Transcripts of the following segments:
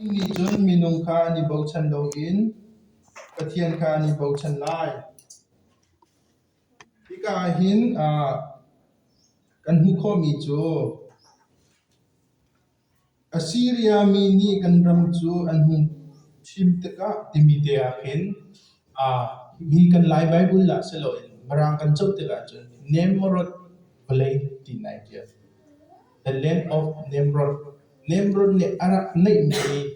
Annih cun minung kha an i bochan loin Pathian kha an i bochan lai. Hika ah hin ah kan hmuh khawhmi cu Assiria mi nih kan ram cu an hung thim tikah timi te ah khin ah hi kan Lai Baibal ah si loin Mirang kan co tikah cun Nimrod vawlei ti nai ṭial. The Land of Nimrod. Nimrod nih a rak neihmi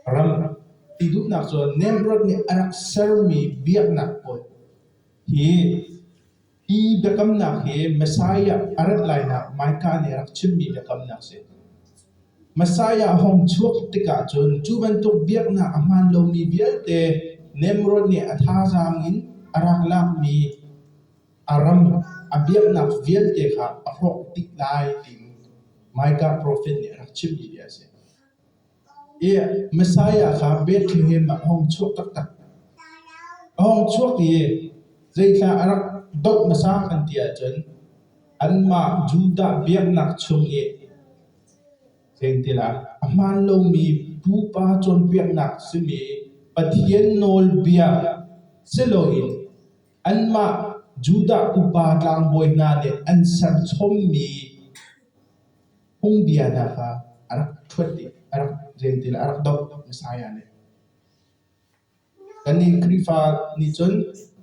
ram ti duhnak cu Nimrod nih a rak sermi biaknak pawl hi hi biakamnak hi Messiah a rat lainak Micah nih a rak chimmi biakamnak a si. Messiah a hung chuak tikah cun cu bantuk biaknak a hmaan lomi vialte Nimrod nih a thazaang in a rak lakmi a ram a biaknak vialte kha a hrawk tik lai tiin Micah profet nih a rak chimmi hi a si. I Messiah kha Bethlehem ah a hong chuak taktak. A hong chuak i zeithla a rak doh hmasa kan ti ahcun anmah Judah biaknak chung i sengtilah a hmaan lomi pupa cawnpiaknak simi Pathian nawlbia si loin Anmah Judah upa tlangbawi hna nih an serchommi phungbia hna kha a rak ṭhuat dih, a rak rel ti le a rak doh. Messiah nih. Kannih Khrihfa nih cun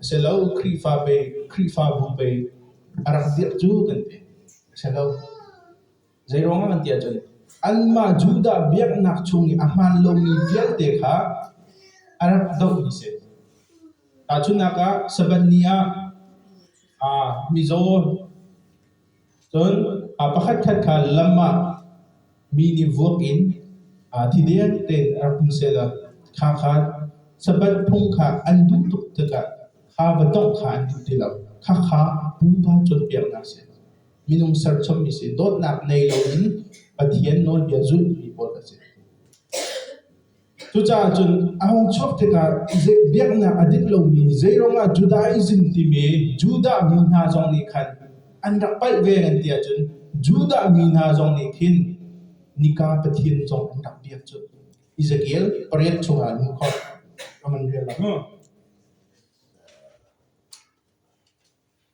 a si lo Khrihfa ve, Khrihfabu ve a rak dirh cu kan ti. A si lo. Zeiruangah kan ti ahcun anmah Judah biaknak chung i a hmaan lomi vialte kha a rak dohmi a si. Tahchunhnak ah, Sabbath ni ah aa mizaw cun aa pakhatkhat kha lam ah mi nih vuak in aa thideng tein a rak um sehlaw kha kha Sabbath phung kha an duh tuk tikah kha va tongh kha an duh ti lo. Khakha pupa cawnpiaknak a si. Minung serchommi sin dawtnak nei loin Pathian nawlbia zulmi pawl a si. Cucaah cun a hung chuak tikah biaknak a dik lomi zeiruang ah Judaism timi Judah mi hna zong nih khan an rak palh ve an ti ahcun Judah mi hna zong nih khin nika Pathian zong an rak biak cu. Ezekiel pariat chungah an khot. Aman rial lang.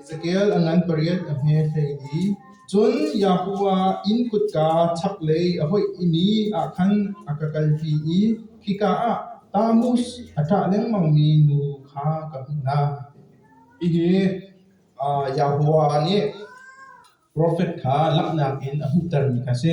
Ezekiel a ngan pariat a hme hlei i cun Yahuah inn kutka chaklei a hoih i mi ah khan a ka kalpi i khika ah Tamus a ṭah lengmangmi nu kha ka hmuh hna. Hihi Yahuah nih profet kha langhnak in a hmuhtermi kha a si.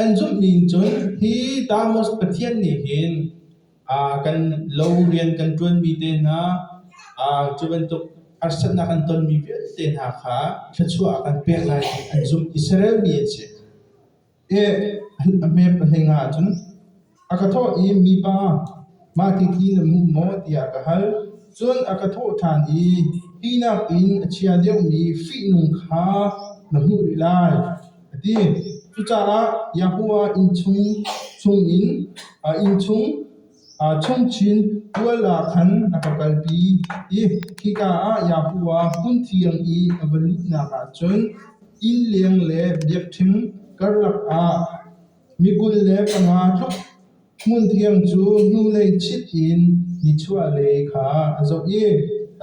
An zumhmi in cun hi Tamus Pathian nih hin kan lo rian kan ṭuanmi te hna cu bantuk harsatnak an tonmi vialte hna kha thluachuah kan pek lai ti an zumh. Israel mi an si. a hmep a hling ahcun a ka thawh i mipa mah tithi na hmuh maw tiah ka hal. Cun a ka thawh ṭhan i hi nakin a chia deuhmi fihnung kha na hmuh rih lai, a ti. Cucaah Yahuwah inn chung chungin a inn chung Aa chawnh chin. Tual ah khan a ka kalpi i khika ah Yahu a hmunthiang i a va luhnak ah cun inn leng le biakṭheng karlak ah mi kul le panga tluk hmunthiang cu hnulei chit in nichuahlei kha a zoh i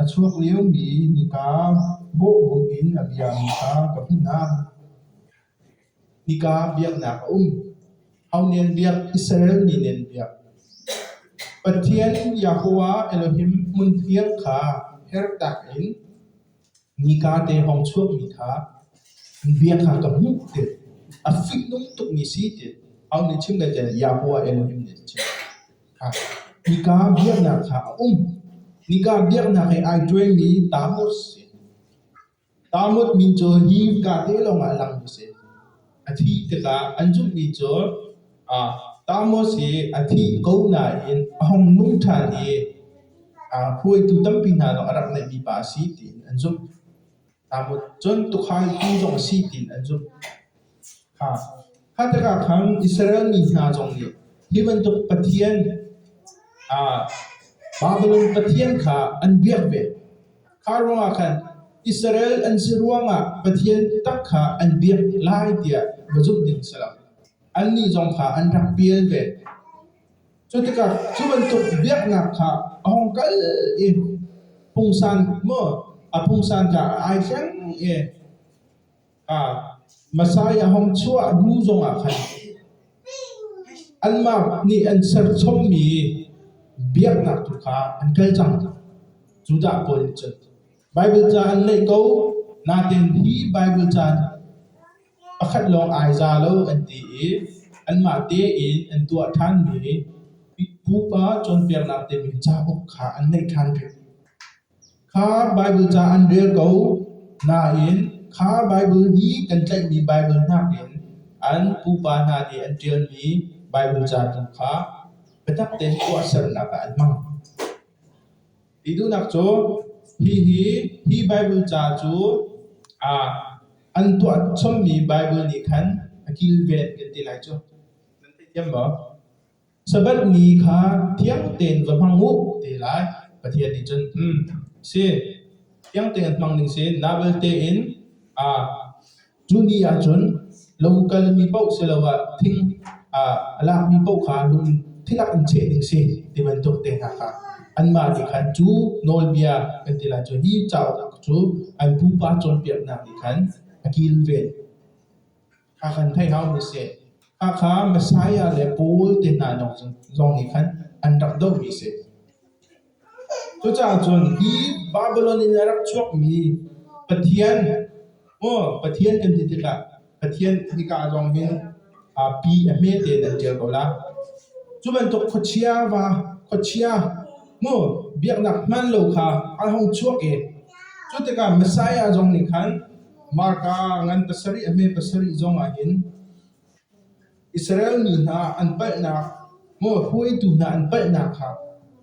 a chuak liomi nika bawhbunh in a biami kha ka hmuh hna. Nika biaknak a um. Haunian biak, Israel ninen biak. Pathian Yahweh Elohim hmunhir kha hertak in nika te hawng chuakmi kha an bia kha ka hmuh ti. A fihnung tukmi si ti. Haun nih chim ngaite Yahweh Elohim nih a chim. Ha. Nika biaknak kha a um. Nika biaknak he ai ṭuanmi Tammuz si. Tarmut min cu hi kate lawngah lang usih. A thih tikah an zumhmi cu ah Tarmus hi a thi ko nain a hung nung ṭhan i aa hruaitu tampi hna lawng a rak neihmi pa a si tiin an zumh. Tarmut cun tuukhal pu zong a si tiin an zumh. Kha tikah khan Israel mi hna zong nih hi bantuk pathian Babilon pathian kha an biak ve. Kha ruangah khan Israel an si ruangah pathian biatak kha an biak lai tiah va zumh ding a si lo. Annih zong kha an rak pial ve. Cu tikah cu bantuk biaknak kha a hong kal i pungsan maw a pungsan kha ai thleng i Masai a hong chuah hnu zongah khan anmah nih an serchommi biaknak tu kha an kal cang. Judah pawl nih cun Baibal ca an ngaih ko, natein hi Baibal ca pakhat lawng ai za lo an ti i anmah tein an tuah ṭhanmi pupa cawnpiaknak timi cauk kha an ngaih ṭhan peng. Kha Baibal ca an rel ko nain kha Baibal i kan tlaihmi Baibal hnakin an pupa hna nih an ṭialmi Baibal ca tu kha biatak tein tuahsernak ah an hmang. Ti duhnak cu hihi hi Baibal ca cu aa an tuah chommi Baibal nih khan a kilven kan ti lai cu. Nan thei thiam maw? Sabbath ni kha thiang tein va hmang u te lai. Pathian nih cun um si thiang tein hmang ding si na belte in a cu ni ah cun lung kal mi paoh siloah thing a lak mi paoh kha lung thilak in cheh ding si ti bantuk te hna kha anmah nih khan cu nawlbia kan ti lai cu hi cauk cu an pupa cawnpiaknak nih khan a kilven Hakha Messiah le Paul te hna zong nih khan an rak dohmi a si. Cucaah cun hi Babilon in a rak chuakmi Pathian, maw Pathian kan ti tikah Pathian hika ah zong hin pi a hme tein an ṭial ko la. Cu bantuk khuachia va, khuachia, maw biaknak hmaan lo kha an hung chuak i cu tikah Messiah zong nih khan Marka ngan pasarih a hme pasarih zong ahhin Israel mi hna an palhnak, maw hruaitu hna an palhnak kha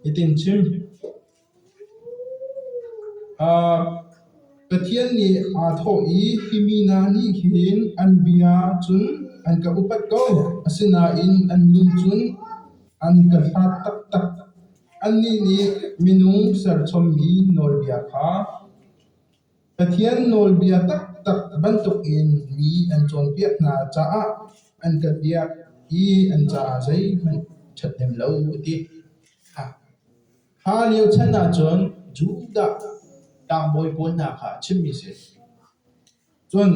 hitin chim. Uh, Pathian nih aa thawh i hi mi hna nih hin an bia cun an ka upat ko, asinain an lung cun an ka hlat taktak. Annih nih minung serchommi nawlbia kha Pathian nawlbia taktak bantukin mi an cawnpiak hna caah an ka biak i an caah zeihmanh ṭhathnem lo a ti. Kha lio chan ahcun Judah tlangbawi pawl hna kha a chimmi a si. Cun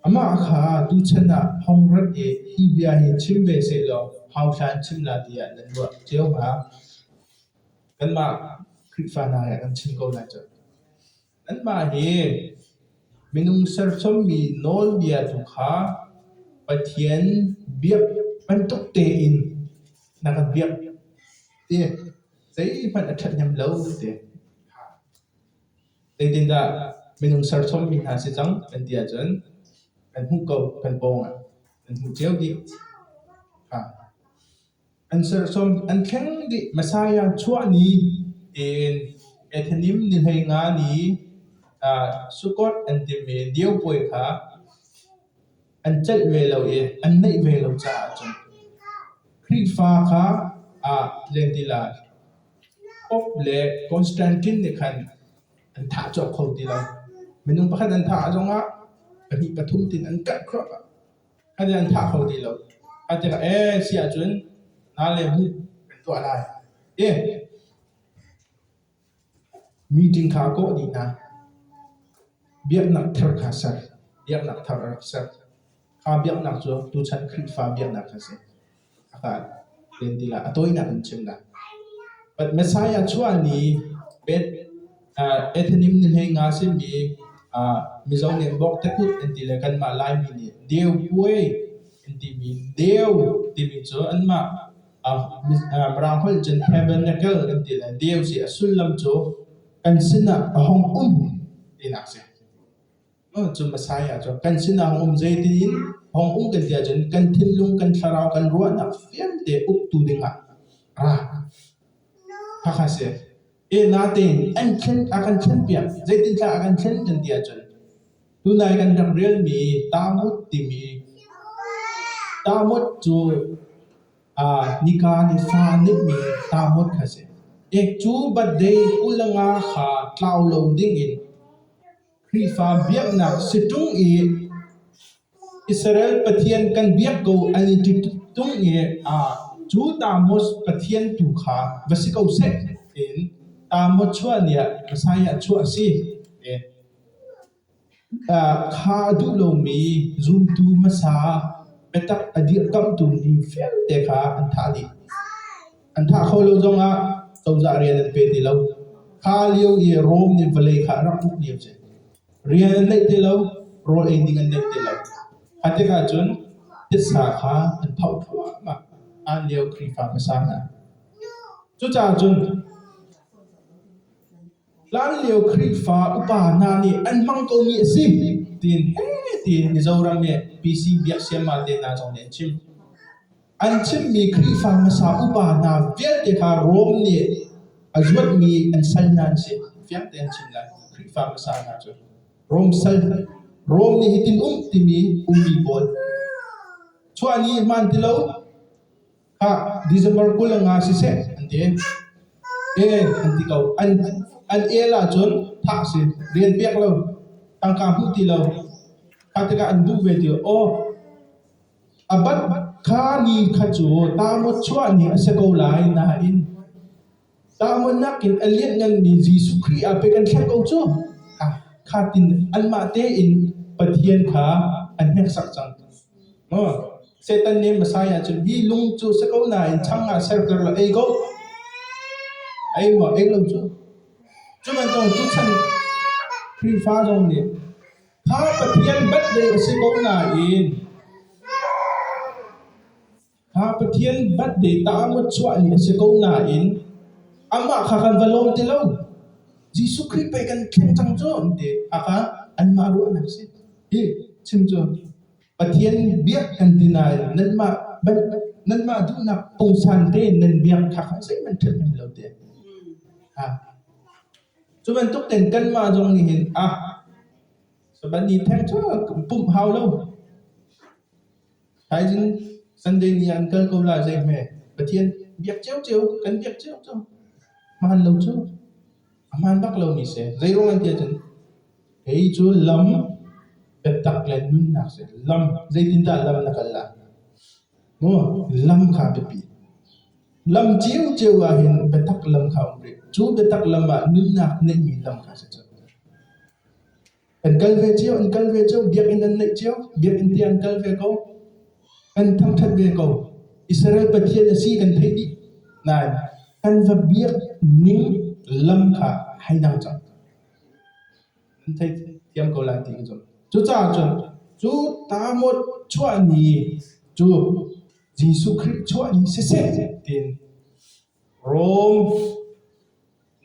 amah kha tuchan ah phongrat i hi bia hi chim ve sehlaw hauthla in chim la tiah nan ruah cio hnga. Kanmah Khrihfa hna he kan chim ko lai cu. Anmah hi minung serchommi nawlbia tu kha Pathian biak bantuk tein na ka biak ti zeihmanh a ṭhathnem lo ka ti. Zeitindah minung serchommi hna si cang kan ti ahcun kan hmuh ko, kan pawng ah kan hmu cio dih. Ha. An serchom an thleng dih Messiah chuah ni in Ethanim ni hlei nga ni Sukkot an timi Diopuai kha an celh ve lo i an neih ve lo caah cun Khrihfa kha ah len ti lai. Pope le Constantine nih khan an thah cawk kho ti lo. Minung pakhat an thah zongah pahnih pathum tin an karh khawh. Ka nih an thah kho ti lo. Ka ti ka ee si ahcun nalem hi kan tuah lai ti. Meeting kha kawh dih hna. Biaknak ther kha ser. Biaknak thar a rak ser. Kha biaknak cu tuchan Khrihfa biaknak a si. a tawinak in chim dah. But Messiah chuah ni Ethanim ni hlei nga simi Mizo nih bok tekut an ti le kanmah Laimi nih Deu puai an timi Deu timi cu anmah Mirang holh cun tabernacle kan ti le Deu si a sullam cu kan sinah a hong um tinak a si. Cu a sai ahcun kan sinah um zeitiin hong um kan ti ahcun kan thinlung kan thlarau kan ruahnak vialte uktu dingah ra khakha si e na tein an thlen a kan thlen piak zeitin thla a kan thlen kan ti ahcun tunai kan ram relmi tamut timi tamut cu uh, nika ni fa nihmi tamut kha si ek cu badde ulanga kha tlau lo ding in Khrihfa biaknak si ṭung i Israel Pathian kan biak ko an i ti ṭung i cu Tammuz pathian tu kha va si ko seh tiin Tammuz chuah ni ah Messiah chuah a si. Kha a duh lomi zumtu hmasa biatak a dirkamhtu ni vialte kha an thah dih. An thah kho lo zongah cozah rian an pe ti lo. Kha lio i Rome nih vawlei kha a rak hmuh ni a si. Rian an neih ti lo, rawl ei ding an neih ti lo. A tikah cun titsa kha an tho thluahmah. An lio Khrihfa hmasa hna. Cucaah cun Hlanlio Khrihfa upa hna nih an hmang komi a si tiin heh tiin Mizoram i PC biak siamal te hna zong nih an chim. An chimmi Khrihfa hmasa upa hna vialte kha Rome nih a zuatmi an sal hna an si. Fiang tein an chim lai. Khrihfa hmasa hna cu Rome sal, Rome nih hitin um timi ummi pawl. Chuah ni hmaan ti lo, Khah, December kul nga siseh an ti. Eh an ti ko. An an el ahcun thah si rian pek lo. Tangka hmuh ti lo. Kha tikah an duh ve ti lo. Aw, abat kha ni kha cu tamawt chuah ni a si ko lai nain Tlanguannak in a lianhnganmi Jesuh Khrih ah pei kan thleng ko cu. Kha tin anmah tein Pathian kha an hneksak cang. Satan nih Messiah cun hi lung cu si ko nain chang ah serter la ei ko. Ei maw ei lo cu. Cu bantuk tu chan Khrihfa zong nih kha Pathian bat dei a si ko nain Kha Pathian batde tah ah mawchuah ni a si ko nain amah kha kan va lawm ti lo. Jesuh Khrih pei kan thleng cang cu an ti. Aka anmah ruahnak si. Hi chim cu Pathian biak kan ti nain nanmah nanmah duhnak pungsan te nan biak kha kha zeihmanh ṭhathnem lo te. Ha. Cu bantuk ten kanmah zong nih hin ah saban ni theng cu kan pumh hau lo. Thaizing Sunday ni ah an kal ko lai zei hme. Pathian biak ciocio kan biak cioco. Hmaan lo cu. A hmaan bak lomi si. Zeiruang an ti ahcun kei cu lam biatak le nunnak si. Lam, zeitindah lam na kal lai? Maw, lam kha biapi. Lam ciocio ahhin biatak lam kha a um rih. Cu biatak lam ah nunnak neihmi lam kha si cu. Kan kal ve cio, an kal ve cio, biakinn an naih cio, biakinn te an kal ve ko, kan thangṭhat ve ko. Israel Pathian a si kan theih dih. Nain, kan va biak ning lam kha hei dang cang. An thei thiam ko lai ti ka zumh. Cucaah cun, cu tamawt chuahni cu Jesuh Khrih chuahni siseh tiin Rom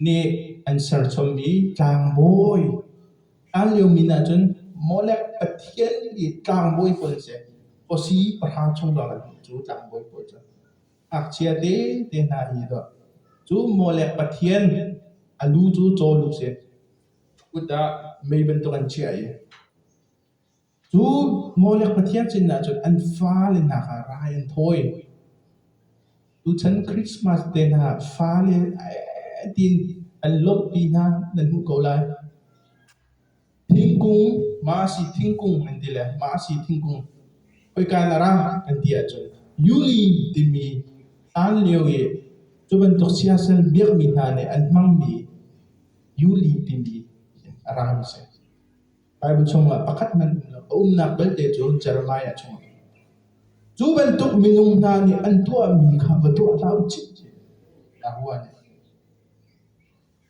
nih an serchommi tlangbawi, hlan lio min ahcun Molek pathian i tlangbawi pawl an si. Khuasi pahra chung lawng an um cu tlangbawi pawl cu. Ngakchia tete hna hi dawh. Cu Molek pathian, a lu cu caw lu a si. Kut ah mei bantuk an chiah i Cu Molek pathian sin ahcun an fale hna kha rai an thawi. Tuchan Christmas te hna fale tiin an lawmhpi hna nan hmuh ko lai. Thingkung, masi thingkung an ti le masi thingkung, khoika in a ra an ti ahcun yuli timi hlan lio i cu bantuk siasal biakmi hna nih an hmangmi yuli timi a rami a si. Baibal chungah pakhat hmanh um lo. A umnak belte cu Jeremiah chung a um. Cu bantuk minung hna nih an tuahmi kha va tuah hlah u cihcih. Nakua nih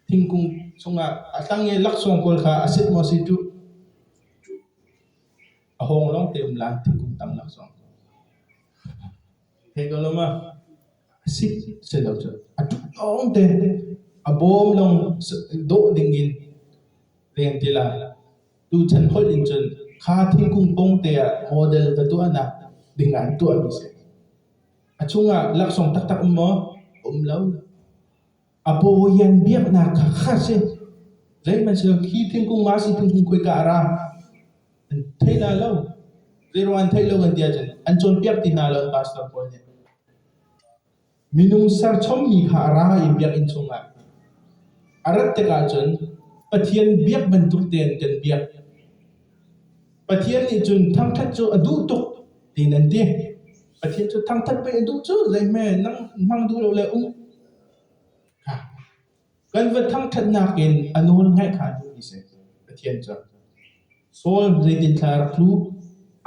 thingkung chungah a tlang i laksawng kawl kha a sit maw si tu a hawng lawng te um lang thingkung tang laksawng. A si lo cun a ṭhat lawngte a bawm lawng dawh dingin len ti lai. Tuchan holh in cun kha thingkung pongte ah model ka tuahnak dingah hin tuahmi a si. A chungah laksawng taktak um maw? Um lo. A pawhian biaknak kha kha a si. Zeihmanhsehlaw khi thingkung ma si thingkung khoika a ra an thei hna lo. Zeiruang an theih lo an ti ahcun an cawnpiak ti hna lo an pastor pawl nih. Minung serchommi kha a ra i biakinn chungah. A rat tikah cun Pathian biak bantuk tein kan biak. Pathian nih cun thangṭhat cu a duh tuk tiin an ti. Pathian cu thangṭhat pei a duh cu zeihme nang hmang duh lo le um Kan va thangṭhatnak in a nawlngaih hngatu i seh, Pathian cu! Saul zeitinthla rak tlu?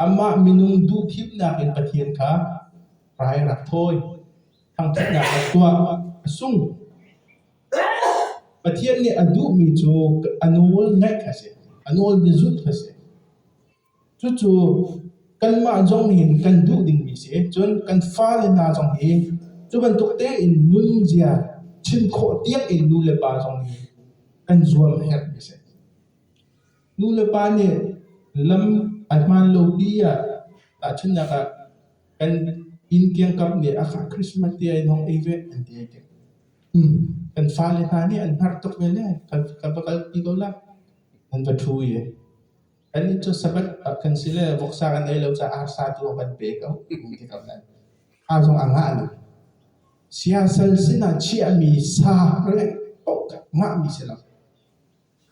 Amah minung duhthimnak in Pathian kha rai rak thawi. Thangṭhatnak rak tuah, a sung. Pathian nih a duhmi cu a nawl ngaih kha a si, a nawl na zulh kha a si. Cucu kanmah zong in kan duh dingmi a si. Cun kan fale hna zong hi cu bantuk tein nunzia chim khawh tiangin nu le pa zong hi kan zuam a herhmi a si. Nu le pa nih lam a hmaan lo pi ah tahchunhnak ah kan inn kiangkap nih a fah Christmas te ai hong ei ve an ti ai ṭiak. Um, kan fale hna nih an hnarh tuk ve lai. Kan va kalpi ko la, an va ṭhu i. Annih cu Sabbath kan si le voksa kan ei lo caah arsa tu a van pe ko ti ko nain a zong a ngah lo. Siasal sinah chiahmi sa rengh paoh kha ngahmi si lo.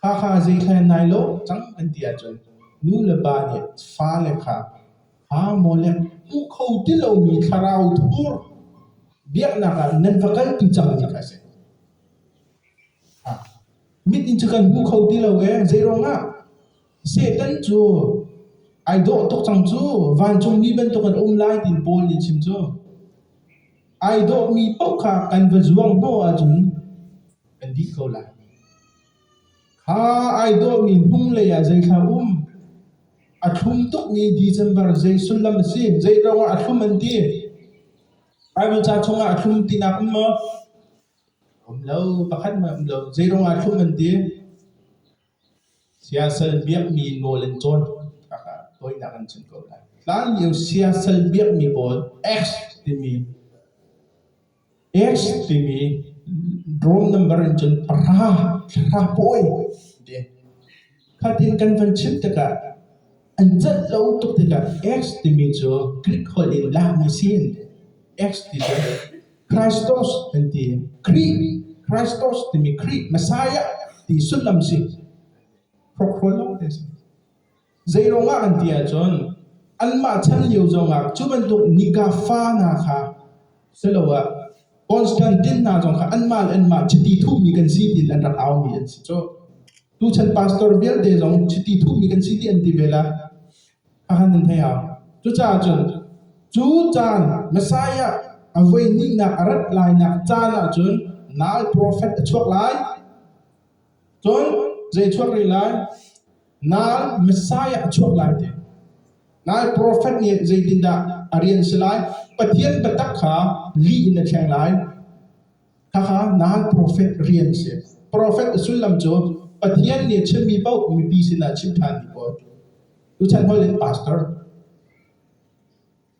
Khakha zeikhel nai lo cang an ti ahcun nu le pa nih fale kha aa maw le hmuh kho ti lomi thlarau thur biaknak ah nan va kaltu cang hi kha a si. Mit in cu kan hmu kho ti lo ee. Zeiruangah? Satan cu ai dawh tuk cang cu. Vancungmi bantuk an um lai ti Paul nih a chim cu. Ai dawhmi paoh kha kan va zuang hnawh ahcun kan dih ko lai. Kha ai dawhmi hnulei ah zei thla um? A thlum tukmi December zei sullam a si? Zeiruangah a thlum an ti? Baibal ca chungah a thlum tinak um maw? A um lo, pakhat hmanh a um lo. Zeiruang ah thlum an ti? Siasal biakmi nawl an cawn. Khaka tawinak an chim ko lai. Hlan lio siasal biakmi pawl X timi X timi roll number in cun para, thla pawi an ti. Fatin kan van chim tikah an cat lo tuk tikah X timi cu Greek holh in lakmi si an ti. X ti cu Christos an ti. Khrih, Christos timi Khrih, Messiah ti sullam si. Hrokhrol lawng te si. Zeirong ah an ti ahcun, anmah chan lio zongah cu bantuk nika fa hna kha siloah Constantine hna zong kha anmah le anmah chiti thuhmi kan si ti an rak aumi an si cu. Tuchan pastor vialte zong chiti thuhmi kan si ti an ti ve la. a kan in hei au. Cucaah cun cu caan Messiah a voi hnihnak a rat lainak caan ah cun nau profet a chuak lai. Cun zei chuak rih lai? Nau Messiah a chuak lai te. Nai profet nih zeitindah a rian si lai? Pathian biatak kha lih in a thleng lai. Khakha na hal profet rian si. Profet a sullam cu Pathian nih a chimmi paoh mipi sinah chim ṭhanmi pawl. Tuchan hawi le pastor.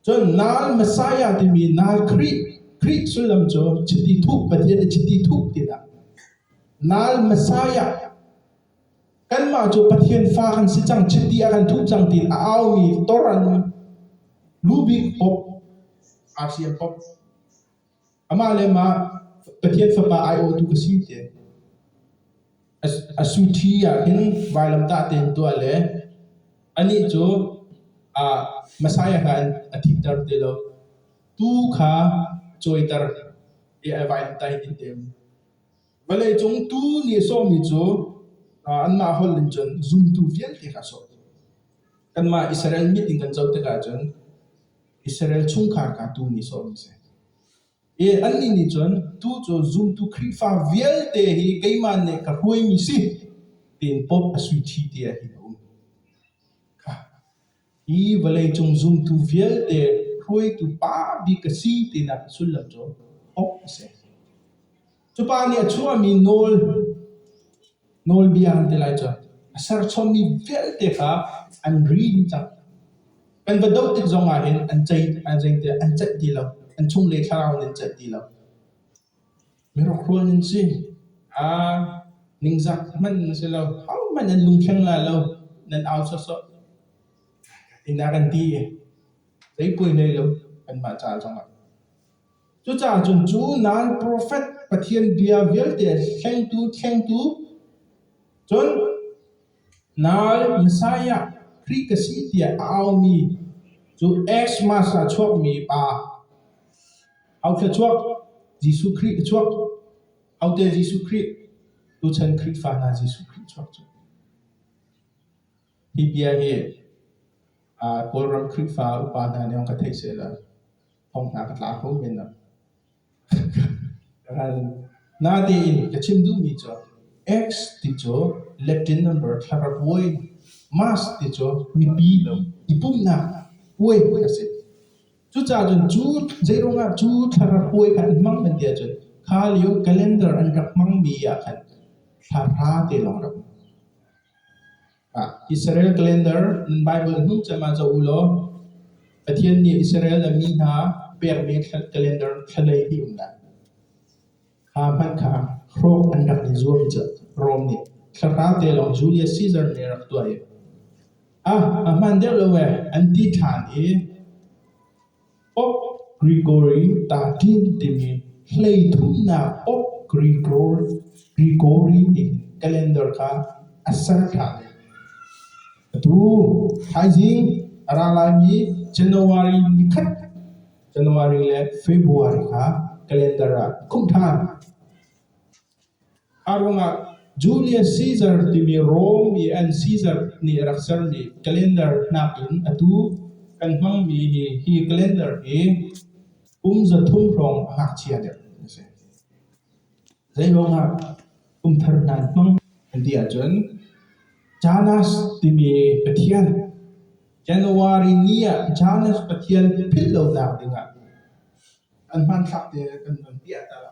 Cun nal Messiah timi nal Khrih Khrih sullam cu chiti thuh Pathian i chiti thuh tinak. Nal Messiah kanmah cu Pathian fa kan si cang chiti a kan thuh cang ti a aumi toran lubik pop aa siam pop Amah le mah Pathian Fapa aiawhtu ka si te. A suṭhi ah hin vailamtah tein tuah le anih cu Messiah kha a thitter ti lo. Tuu kha a cawiter i a vailamtah hi ti a um. Vawleicung tuu nih a sawhmi cu anmah holh in cun zumtu vialte kha a sawh. Kanmah Israel mit in kan zoh tikah cun Israel chungkhar kha tuu nih sawm a si. I annih nih cun, tuu cu zumtu Khrihfa vialte hi keimah nih ka hruaimi si, tiin Pope a suiṭhi te ah hin a um. Kha, hi vawleicung zumtu vialte hruaitu pa bik ka si tinak sullam cu Pope a si. Cupa nih a chuahmi nawl, nawlbia an ti lai cu, a serchawmmi vialte kha an ri cang. Kan va doh tik zong ahhin an ceih an zei tiah an celh ti lo. An chungle thlarau in an celh ti lo. Mirukruan an si. A ningzak hmanh an si lo. Hohmanh an lungthleng lai lo. Nan au sawsawh. Tinak an ti i, zei puai hlei lo kanmah ca zongah. Cucaah cun cu nan profet Pathian bia vialte thlengtu thlengtu, cun nal Messiah Khrih ka si tiah a aumi cu Xmas ah a chuakmi pa, aotle chuak Jesuh Khrih a chuak, aote Jesuh Khrih, tuchan Khrihfa hna Jesuh Khrih a chuak cu. Hi bia hi Kawlram Khrihfa upa hna nih ka theih seh law thawng hna ka tla kho men lam. Natein ka chim duhmi cu X ti cu Latin number thlarauai, Mas ti cu mipi lo i pumhnak puai hawi a si. Cucacun cu zeiruang ah cu thlarauai kha in hmang kan ti ahcun kha lio calendar an rak hmangmi ah khan thla hra te lawng rak um. Israel calendar nan Baibal hnuh cem ah zoh u law Pathian nih Israel a mi hna pekmi calendar thalei hi um lai. Kha hmanh kha hrawk an rak i zuam cu Rom nih thlarau te lawng Julius Caesar nih a rak tuah i a hman deuh lo ee an ti ṭhan i Okrigore tahdin timi hleithumnak Okrigore nih calendar kha a ser ṭhan. Atu thaizing a ra laimi January ni khat, January le February kha calendar ah khumh ṭhan. A ruangah Julius Caesar timi Rom mi an Caesar nih a rak sermi calendar nakin atu kan hmangmi hi hi calendar hi kum zathum hrawng a ngakchia deuh a si. Zei ruangah kum thar hna an hmang an ti ahcun Janus timi pathian January ni ah Janus pathian philh lonak dingah an hmanthlak te kan van piah ta lo.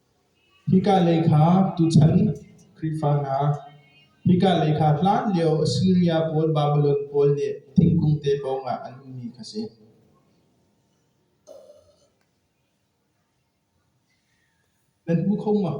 Hika lei kha tuchan Khrihfanak, hika lei kha hlanlio Assiria pawl Babilon pawl nih thingkung te pawngah an ummi kha si. Nan hmu kho maw?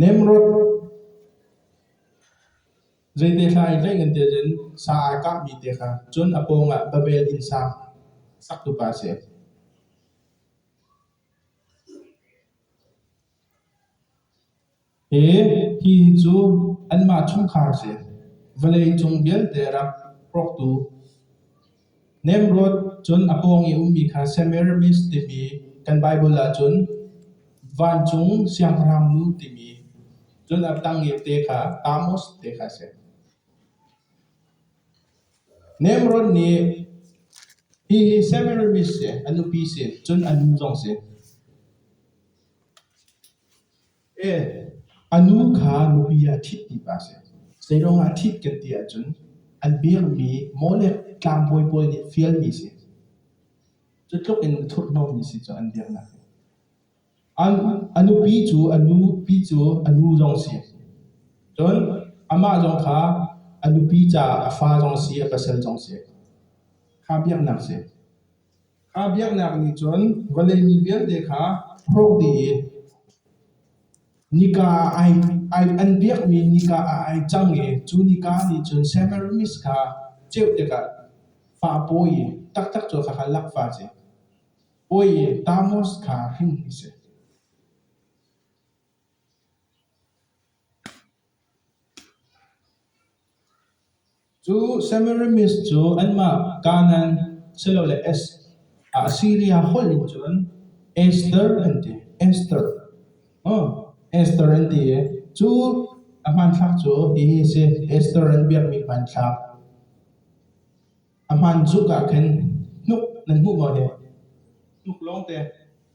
Nemrod zeite hlai hlei in tiah cun sa ai kahmi te kha cun a pawngah Babel inn sa saktupa a si. Hi hi cu anmah chungkhar a si. Vawlei cung vialte rak hrawktu Nimrod cun a pawng i a ummi kha Semiramis timi kan Baibal ahcun vancung siangpahrangnu timi cun a tang i te kha Amos te kha a si. Nimrod nih hi Semiramis si, a nupi si, cun a nu zong si. A nu kha nupi ah thit ti pa a si. Zeiruangah a thit kan ti ahcun an biakmi maw le tlangbawi pawl nih fialmi a si. Cutluk in thurhhnawmmi a si cu an biaknak hi. An, a nupi cu, a nupi cu a nu zong si. Cun amah zong kha a nupi caah a fa zong si, a pasal zong si. Kha biaknak a si. Kha biaknak nih cun vawlei mi vialte kha hrawk dih i nika ah ai ai an biakmi nika ah ai cang i cu nika nih cun Semiramis kha ceuh tikah fah pawi taktak cu kha kha lak fa a si. Pawi Tammuz kha hring a si. Cu Semiramis cu anmah Kanaan silole Assiria holh in cun Ester an ti. Ester. Ester an ti i cu a hmanthlak cu hihi a si: Ester an biakmi hmanthlak. A hmaan tuk ah khin hnuk nan hmuh maw hi? Hnuk lawngte.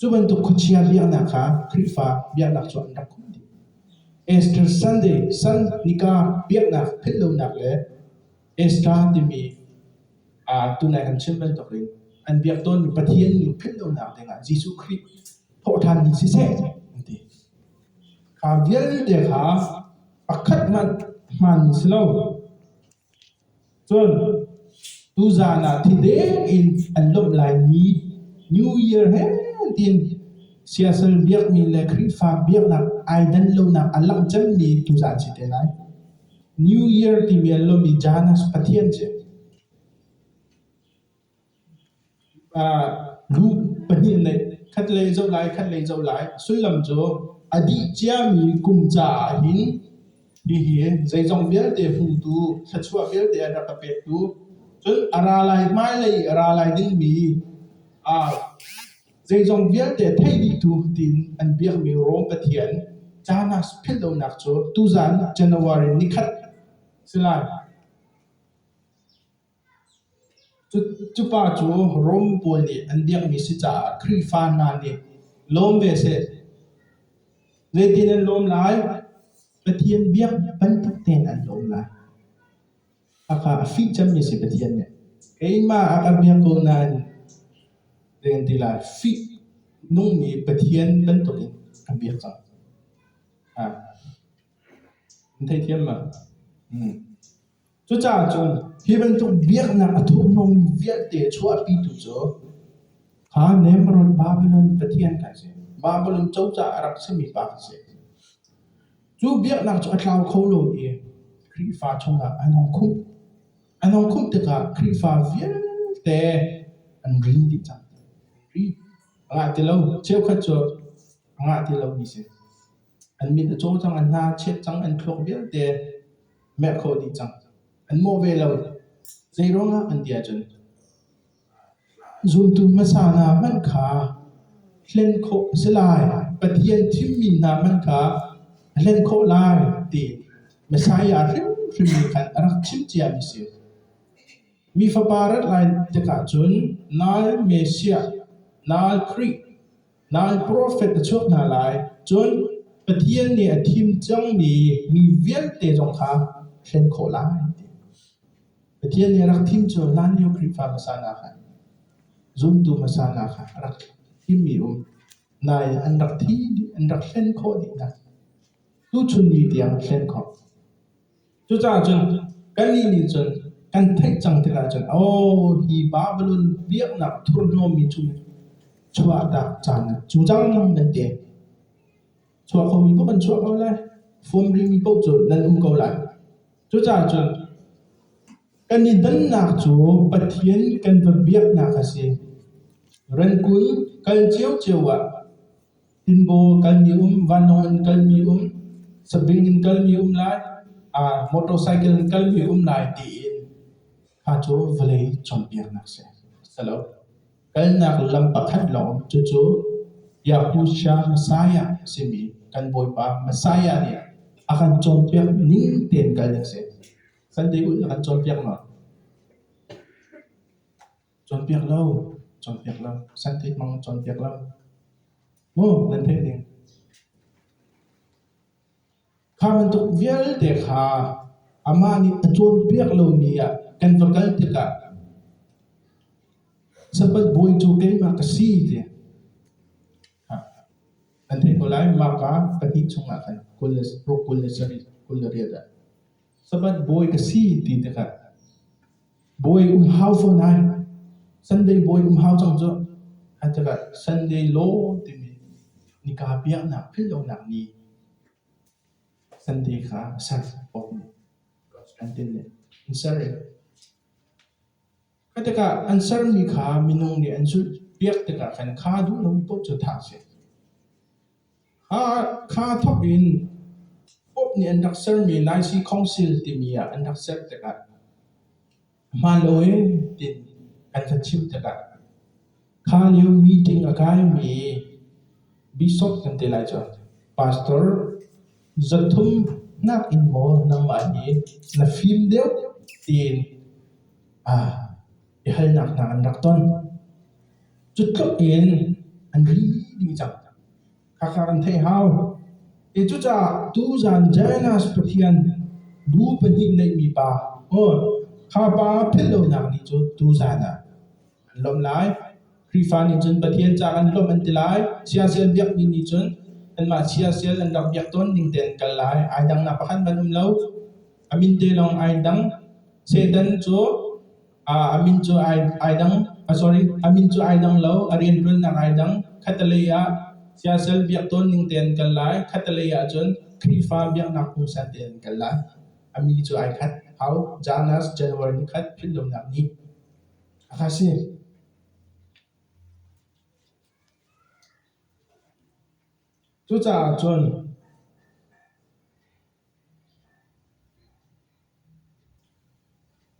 Cu bantuk khuachia biaknak kha Khrihfa biaknak cu an rak um dih. Easter Sunday, San nika biaknak philh lonak le Easter timi uh, tunai an chim bantuk in an biak tawnmi Pathian nu philh lonak dingah Jesuh Khrih thawhthanmi siseh an ti. Kha vialte kha pakhat hmanh hmanmi si lo. Cun tuzaan ah thideng in an lawmh laimi New Year he tiin siasal biakmi le Khrihfa biaknak ai dan lonak a langh cemmi tuzaan a si te lai. New Year timi a lawm i Janus Pathian a si. Lu pahnih an neih, khatlei a zoh lai, khatlei a zoh lai. Sullam cu a dih ciami kum caah hin hihi zeizong vialte hmutu, thluachuah vialte an rak ka pektu, cun a ra lai, hmailei i a ra lai dingmi zeizong vialte thei dihtu tiin an biakmi Rom Pathian caan ah philh lonak cu tuzan January ni khat a si lai. Cupa cu Rom pawl nih an biakmi si caah Khrihfa hna nih lawm ve seh. Zeitin an lawm lai? Pathian biak bantuk tein an lawm lai. Hakha a fih cemmi si Pathian nih. Keimah a ka biak ko nain zei kan ti lai? Fih nungmi Pathian bantukin ka biak cang. Ha. An theithiam ma? Hmm. Cucaah cun hi bantuk biaknak a tuahmi vialte chuahpitu cu kha Nimrod Babilon pathian kan si. Babilon cozah a rak simi pa kan si. Cu biaknak cu a tlau kho lo i Khrihfa chungah an hong khumh. An hong khumh tikah Khrihfa vialte an rin dih cang. Ri a ngah ti lo. Cheukhat cu a ngah ti lomi si. An mit a caw cang, an hna a cheh cang, an thluak vialte merh khawh dih cang. An mawh ve lo. Zeiruangah an ti ahcun zumtu hmasa hna hmanh kha hlen khawh a si lai. Pathian thimmi hna hmanh kha a hlen khawh lai ti Messiah hrimhrim nih khan a rak chimh ciami a si. Mi fapa rat lai tikah cun nal Messiah, nal Khrih, Lai profet na chuak hna lai, cun Pathian nih a thim cangmi mi vialte zong kha thlen khawh lai. Pathian nih a rak thim cu hlanlio Khrihfa hmasa hna kha, zumtu hmasa hna kha a rak thimmi um. Nai an rak thi, an rak hlen khawh dih hna. Tuchun ni tiang a hlen khawh. Cucaah cun kannih nih cun kan theih cang tikah cun aw hi Babilon biaknak thurhnawmmi chung in chuahtak caan cu cang nan ti. Chuah khomi paoh kan chuah ko lai, fom rimi paoh cu nan um ko lai. Cucaah cun kan i dannak cu Pathian kan va biaknak a si. Ran kun kal cio cio ah Tinbaw kalmi um, vanlawng in kalmi um, sabing in kalmi um lai, aa motorcycle in kalmi um lai tiin kha cu vawlei cawnpiaknak a si. Si lo. Kalnak lam pakhat lawng cucu Biaktu Siya Messiah a simi kan Bawipa Messiah nih a kan cawnpiak ning tein kal ding a si. Sunday ulh a kan cawnpiak maw? Cawnpiak lo, cawnpiak lo, scientific mang cawnpiak lo. Maw nan theih ding. Kha bantuk vialte kha amah nih a cawnpiak lomi ah kan va kal tikah sapat bawi cu keimah ka si ti an theih ko lai maka pahnih chungah khan kul le ruk kul le sarih kul le riat ah Sabat bawi ka si ti tikah bawi um hau fo nai. Sunday bawi um hau cang cu. An tikah Sunday law timi nika biaknak philhlonak ni Sunday kha a ser awk ni. An tin le an ser i. Khi tikah kan sermi kha minung nih an zulh piak tikah kan kha duh lomi paoh cu thah a si. A kha thawk in Pope nih an rak sermi Laisi Council timi ah an rak ser tikah hmaan lo ee tiin kan kan chimh tikah Kha lio meeting a kaimi bishop kan ti lai cun pastor zoh thum nakin maw nangmah hi na fim deuh tiin aa biahalnak hna an rak ton. Cu tluk in an ri dih cang. Khakha kan theih hau. E cucaah tuzan Janus Pathian bu pahnih neihmi pa, aw, kha pa philh lonak ni cu tuzan ah an lawmh lai. Khrihfa nih cun Pathian ca kan lawmh an ti lai. Chiasial biakmi nih cun anmah chiasial an rak biak tawn ning tein an kal lai. Ai dangnak pakhat hmanh um lo. A min te lawng ai dang. Satan cu aa, a min cu ai, ai dang, ah sorry, a min cu ai dang lo, a rianṭuannak ai dang. Khattelei ah siasal biak tawn ning tein an kal lai. Khattelei ah cun Khrihfa biaknak pungsan tein an kal lai. A mi cu ai khat. Hau, Janus, January ni khat, philhlonak ni. A ka si.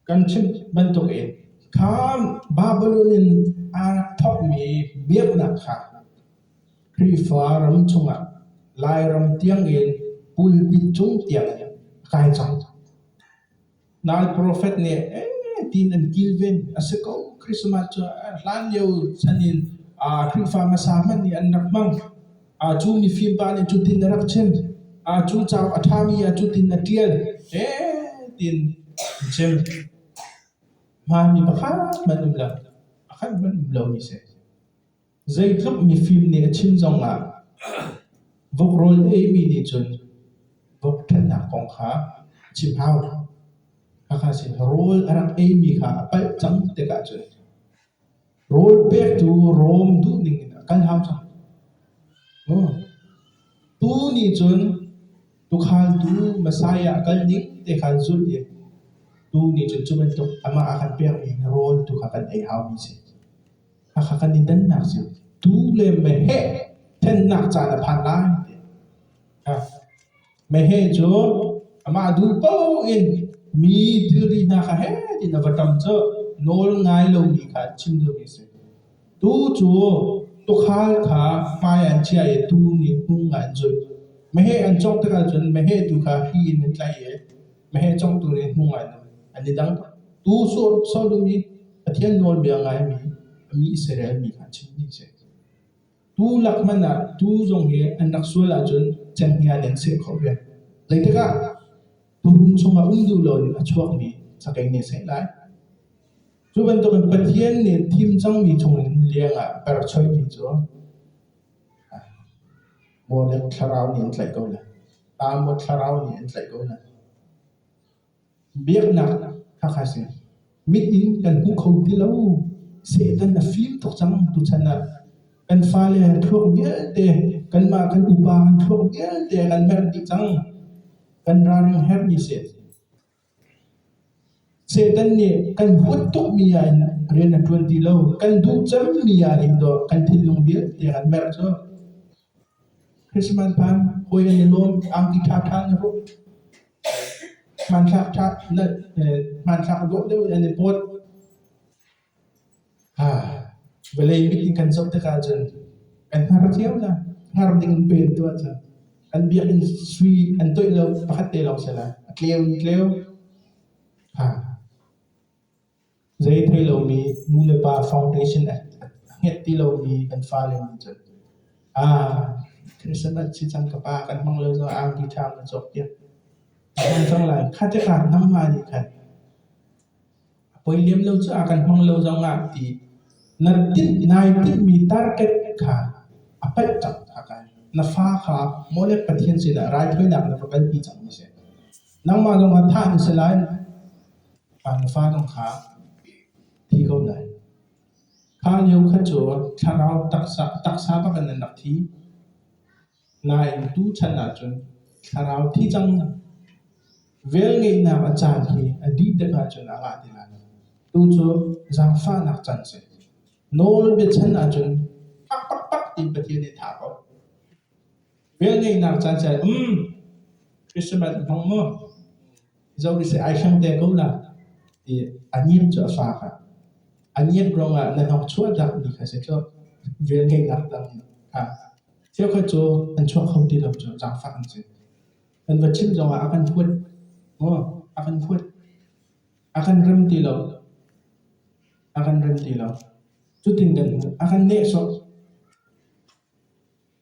Kan chimh bantukin kha Babilon in aa thawkmi biaknak kha Khrihfa ram chungah Lairam tiangin pulpit cung tiangin a kai cang. Nai profet nih tiin an kilven. A si ko, Christmas cu hlan lio chan in Khrihfa hmasa hmanh nih an rak hmang. Cu mifim pa nih cutin a rak chim. Cu cauk a ṭhami ah cutin a ṭial. Tiin an chim. Hmaanmi pakhat hmanh um lo. Pakhat hmanh um lomi a si. Zeitluk mifim nih a chim zongah vok rawl a eimi nih cun vok ṭhatnak kong kha a chim hau. Hakha sin rawl a rak eimi kha a palh cang tikah cun rawl pektu Rom duhning in a kal hau cang. Pu nih cun tuukhaltu Messiah a kal ning te kha an zulh i tuu nih cun cu bantuk amah a kan pekmi rawl tu kha kan ei haumi a si. Khakha kan i dannak cio tu le meheh thennak caan a phan lai. Meheh cu amah duh paoh in mi thilri hna kha he tin a va ṭam cu nawl ngai lomi kha chim duhmi a si. Tu cu tukhal kha hmai ah an chiah i tung in hnung ah an zulh. Meheh an cawk tikah cun meheh tu kha hi in an tlaih i Mahhi congtu le hmu ngainam in an i dang. Tu sau dum i Pathian nawlbia ngaimi a mi Israel mi kha a chimmi a si. Tu lak hmanh ah tu zong hi an rak sual ahcun cenghngia den seh khawh ve. Zeitikah tuhun chungah um duh loin a chuakmi sakei nih seh lai. Cu bantukin Pathian nih thim cangmi chungin liangah per choimi cu Maw le thlarau nih an tlaih ko lai, ta maw thlarau nih an tlaih ko lai. Biaknak khakha si, mit in kan hmu kho ti lo. Satan a fim tuk cang tuchan ah. Kan fale an thluak vialte, kanmah kan upa an thluak vialte kan merh dih cang. Kan ralring herh dih sih. Satan nih kan huat tukmi ah in rian a ṭuan ti lo. Kan duh cemmi ah in dawh kan thinlung vialte an merh cu. Christmas hmaan hawi an i lawm, angki ṭhaṭha an i hruk. Hmanthlak ṭha, hmanthlak dawh deuh in an i pawt. Vawlei meeting kan zoh tikah cun an har cio cang. Har ding an pen tuah cang. An biakinn sui an toih lo pakhat te lawng si lai. A tleu in tleu. Zei thei lomi nu le pa foundation a ngeih ti lomi kan fale nih cun thilsen an si cang ka pa kan hmang lo caah angki ṭha na cawk piak. A hman cang lai. Kha tikah nangmah nih khan A poi lem lo cu a kan hmang lo zongah ti na tinh nai tinh-mi target kha a paih cang kha kai. Na fa kha maw le Pathian sinah raithawinak na va kalpi cang na si. Nangmah zong kha thah na si lai, ah na fa zong kha thi ko lai. Kha lio kha cu thlarau taksa, taksa bak in an rak thi. Nain tuchan ahcun thlarau thi cang, velngeihnak a caan hi a dih dek ahcun a ngah ti lai lo. Tu cu zaangfahnak can a si. Nawl biachan ahcun tak pakpak ti Pathian nih a tha ko. Velngeihnak caan si um Christmas hmang mu. Zomi seh ai hrem te ko la ti a nim cu a faak ah. A nim rong ah na hnok chuah dak na kha si cu vel ngei nak dang nih ha. Cheukhat cu an chuak kho ti lo cu zaangfak an si. Kan va chim zong ah a kan huat. Mo, a kan huat. A kan rem ti lo. A kan rem ti lo. Cutin kan a kan neh sawh.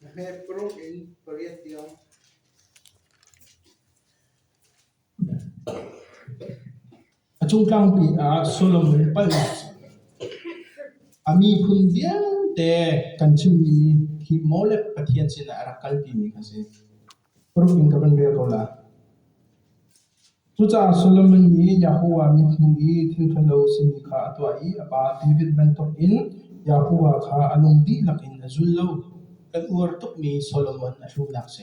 Na hmet paruk in pariat tiang. A cung tlangpi ah Solomon palhnak a miphun vialte kan chimmi hi maw le Pathian sinah a rak kalpimi kha a si. Cucaah Solomon nih Jehovah mithmuh i thilṭhalo a simi kha a tuah i a pa David bantukin Jehovah kha a lung dihlak in a zul lo. Kan uar tukmi Solomon a hrunak si.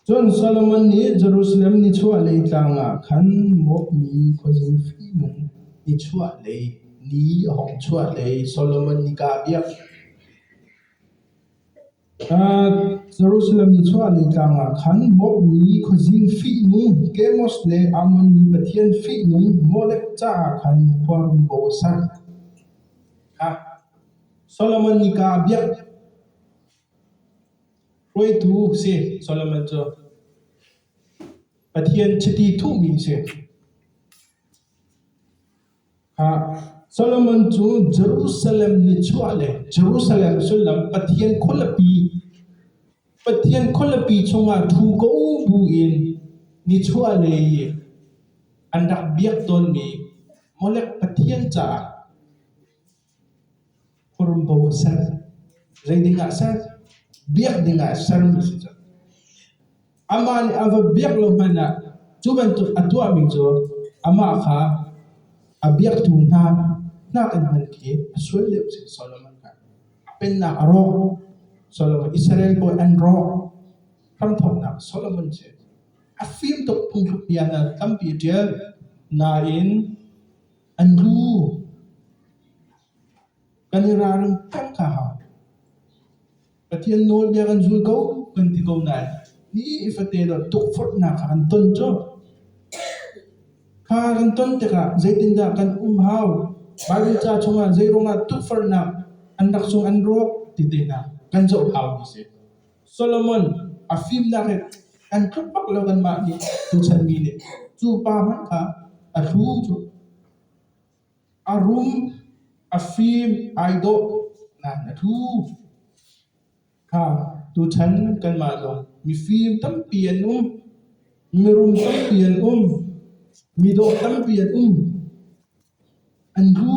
Cun Solomon nih Jerusalem nichuahlei tlang ah khan mawpmi khuazing fihnung nichuahlei ni a hawng chuahlei Solomon nika a biak. Jerusalem nichuahlei tlang ah khan Moab mi khuazing fihnung Kemos le Ammon mi pathian fihnung Molek caah khan khua um paoh a sak. Solomon nih kaa a biak hruaitu a si. Solomon cu Pathian chiti thuhmi a si. Solomon cu Jerusalem nichuah le Jerusalem sullam Pathian khualipi, Pathian khualipi chungah ṭhu ko buin nichuahlei i an rak biak tawnmi Molek pathian caah Hurumbo a ser. Zei ding ah ser? Biak ding ah sermi a si cang. Amah nih a va biak lo hmanh ah cu bantuk a tuahmi cu amah kha a biaktu hna nakin hman khi a sual lio a si. Solomon kha a pennak a rawk. Solomon Israel bawi an rawk. Hramthawknak Solomon si. A fim tuk phungthluk bia hna tampi a ṭial. Nain An nu kan i ralring ṭhang kha hau. Pathian nawlbia kan zul ko kan ti ko nain ni ifate lo tukforhnak kha kan ton cu. Kha kan ton tikah zeitindah kan um hau? Baibal ca chungah zei ruangah tukforhnak an rak cung an rawk ti te hna kan zoh hau mi a si. Solomon a fimnak in an tluk bak lo anmah nih tuchan mi nih cu pa hmanh kha a thlu cu a rum a fim ai dawh nan a thu kha tuchan kanmah zong mifim tampi an um mirum tampi an um midawh tampi an um an thu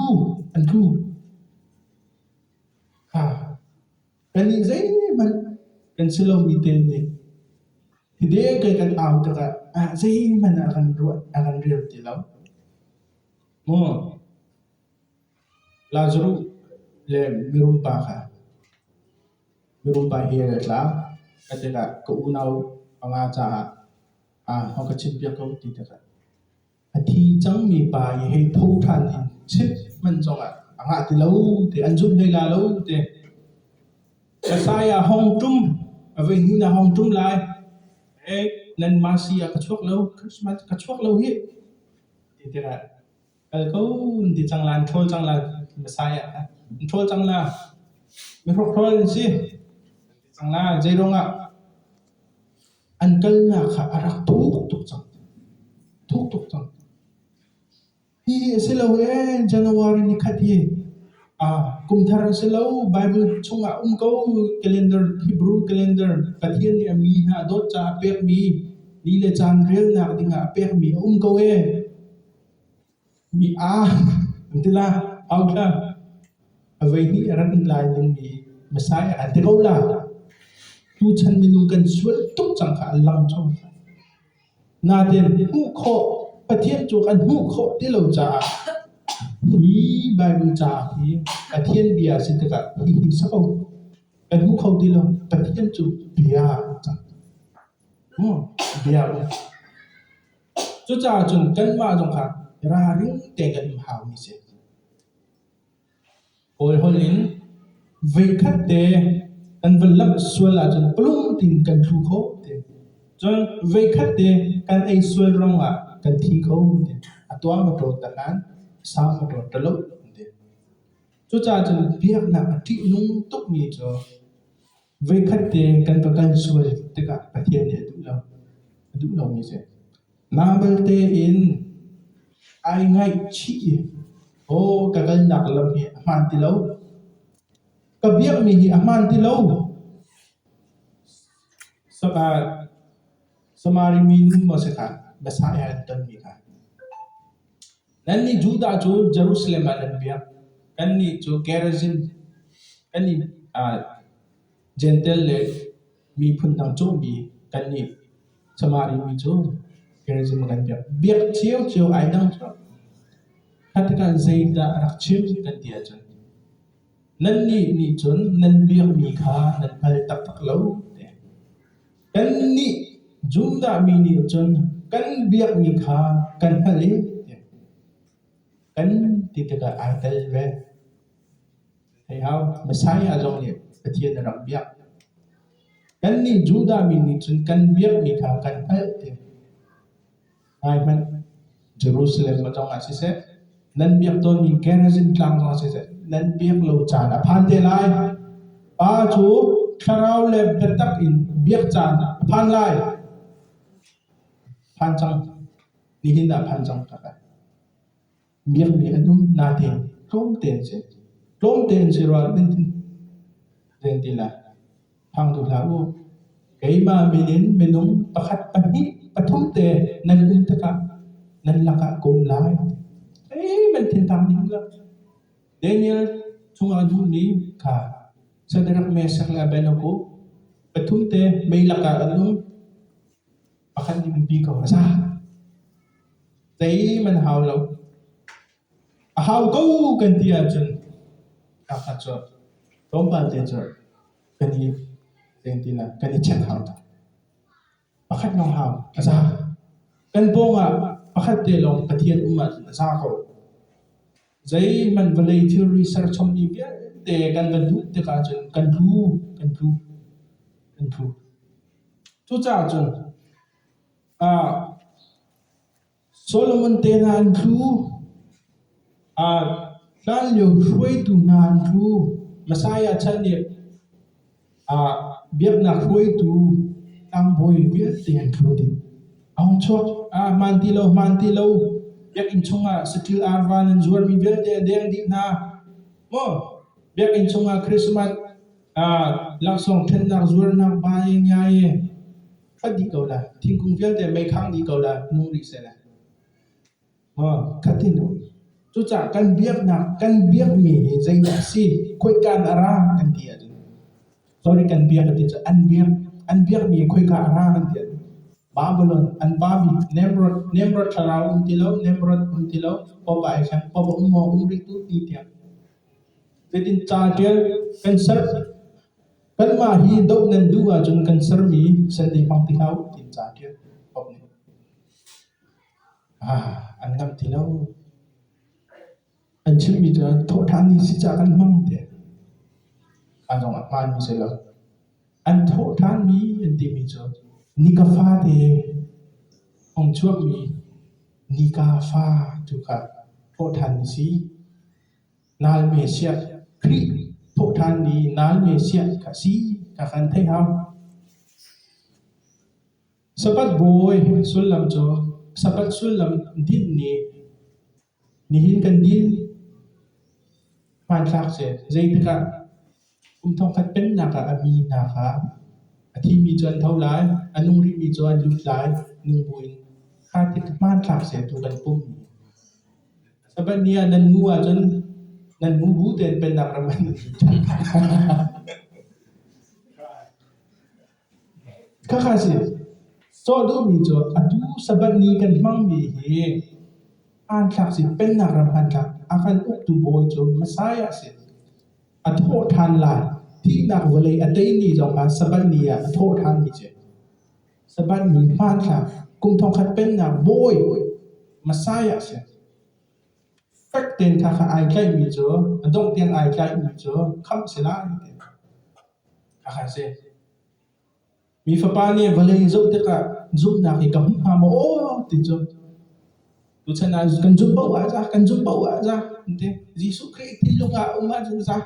an thu kha Kannih zeihmanh kan si lomi te nih hide kai kan au tikah ah zeihmanh a kan ruah a kan rel ti lo. Maw Lazarus le mirum pa kha mirum pa hi a tla ka tikah ka unau panga caah ah a ka chimpiak ko ti tikah A thi cangmi pa i hei tho ṭhan in chit hman zongah a ngah ti lo ti an zumh hlei la lo ti. Messiah hong ṭum a voi hnih na hong ṭum lai. Eh, nan masi ah ka chuak lo, Christmas ka chuak lo hi. Ti tikah kal ko ti cang lan, ṭhawl cang lan Messiah kha. Ṭhawl cang la, mi hrok ṭhawl an si. Ti cang la, zeirong ah An kalnak kha a rak thuk tuk cang. Thuk tuk cang. Hihi a si lo ee, January ni khat hi aa kum thar a si lo, Baibal chungah um ko, calendar, Hebrew calendar, Pathian nih a mi hna a dawt caah a pekmi ni le caan relnak dingah a pekmi a um ko ee. Mi aa an ti la, au la, avoihnih rak in lai dingmi hmasai a kan ti ko la. Tuchan minung kan sual tuk cangka an lang cho. Natin hmuh khawh, Pathian cu kan hmuh khawh ti lo caah hi Bible caah hi Pathian bia si tikah hi hi sa ko. Kan hmuh kho ti lo. Pathian cu bia cang. Hmm, bia u. Cucaah cun kanmah zong kha ralring tein kan um hau mi si. Kawl holh in veikhat te kan van lamh sual ahcun palum tein kan thu kho te. Cun veikhat te kan ei sual ruangah kan thi kho te. A tuang ka ṭawt ta nain sau ka ṭawt ta lo te. Cucaah cun biaknak a ṭihnung tuk mi cu Voikhat te kan ka kan sual tikah Pathian nih a duh lo. A duh lomi si. Mah balte in ai ngaihchih i aw ka kalnak lam hi a hmaan ti lo. Ka biakmi hi a hmaan ti lo. Saka Samari mi nu maw si ta, Messiah an tonmi kha. Nannih Judah cu Jerusalem ah nan biak, kannih cu Gerizim, kannih Jentail le miphun dang cawhmi kannih Samari mi cu Gerizim ah kan biak. Biak cio-cio ai dang cu kha tikah zeidah rak chim kan ti ahcun nannih nih cun nan biakmi kha nan hngal taktak lo, ti a si. Kannih Judah mi nih cun kan biakmi kha kan hngalh i kan ti tikah aa tel ve. Hei hau, Messiah zong nih Pathian a rak biak. Kannih Judah mi nih cun kan biakmi kha kan hngalh ti. Ngai hmanh, Jerusalem a tong ah siseh, nan biak tawnmi Gerizim tlang zong ah siseh, nan biak lo caan a phan te lai. Pa cu thlarau le biatak in biak caan a phan lai. Phan cang. Nihin dah phan cang tak ai. Miang nih an um nate tlawmte an si. Tlawmte an si rua nan ti nan ti la. Phang tu hlah u. Keimah min in minung pakhat pahnih pathum te nan um tikah nan lakah ka um lai. Ei man thiên tang ding la. Daniel chungah nu ni kha Shadrach Meshach le Abednego pathum te mei lakah an um. Pakhat innpi ka va zah. Zeihmanh hau lo. A hau ko kan ti ahcun pakhat cu tlawmpal te cu kan i seng ti lai, kan i check hau tuk. Pakhat lawng hau a za. Kan pawng ah pakhat te lawng Pathian um ahcun a za ko. Zeihmanh vawlei thilri serchom mi vialte kan van duh tik ahcun kan tlu, kan tlu, kan tlu. Cucaah cun uh, Solomon te hna an tlu, uh, hlan lio hruaitu hna an tlu, Messiah chan nih Biaknak hruaitu tlangbawi vialte an kho ding a hung chuak. Hmaan ti lo, hmaan ti lo. Biakinn chungah saṭil arva nan zuarmi vialte a deng dih hna. Maw biakinn chungah Christmas laksawng ṭhennak zuarnak bae ngiae ṭhat dih ko la, thingkung vialte meikhang dih ko la, nung rih seh la. Cucaah kan biaknak kan biakmi hi zeidah a si? Khoikaan a ra kan ti ahcun sorry kan biak a ti cu an biak an biakmi khoika a ra kan ti ahcun Babylon an pa bik Nimrod Nimrod thlarau um ti lo Nimrod um ti lo popa ai thleng popa um maw um rih tu ti tiang zeitin ca ṭial kan ser kanmah hi doh nan duh ahcun kan sermi sandei hmang ti hlah u tiin ca ṭial. An ngamh ti lo. An chimmi cu an thawhṭhanmi si caah kan hmang tiah a zong a hmaanmi si lo. An thawhṭhanmi an timi cu nika fate hong chuakmi nika fa tu kha thawhṭhanmi si. Nalme siah Khrih thawhṭhanmi nalme siah kha si, kha kan theih hau. Sapat bawi sullam cu sapat sullam dinh nih nihin kan din hmanthlak si. Zeitikah kum thongkhat pennak ah a minak ah a thimi cu an tho lai, a nung rihmi cu an lut lai, nung buin kha tik hmanthlak si tu kan pum. Sapat nih ah nan mu ahcun nan mu bu tein pennak ram an lut. Khakha si, sawh duhmi cu a duhsabat nih kan hmangmi hi aan thlak si Pennak ram an thlak a kan uktu bawi cu Messiah a si. A thawh ṭhan lai, thihnak vawlei a tei ni zong kha Sabbath ni ah a thawh ṭhanmi a si. Sabbath ni hmanthlak kum thongkhat Pennak bawi Messiah a si. Fek tein thla kha ai tlaihmi cu, a dongh tiang ai tlaihmi cu khamh a si lai ti a si. Mi fapa nih vawlei zoh tikah zumhnak hi ka hmu hnga maw ti cu tuchan ah kan zumh paoh ah za, kan zumh paoh ah za, an ti. Jesuh Khrih ti lung ah um ahcun za.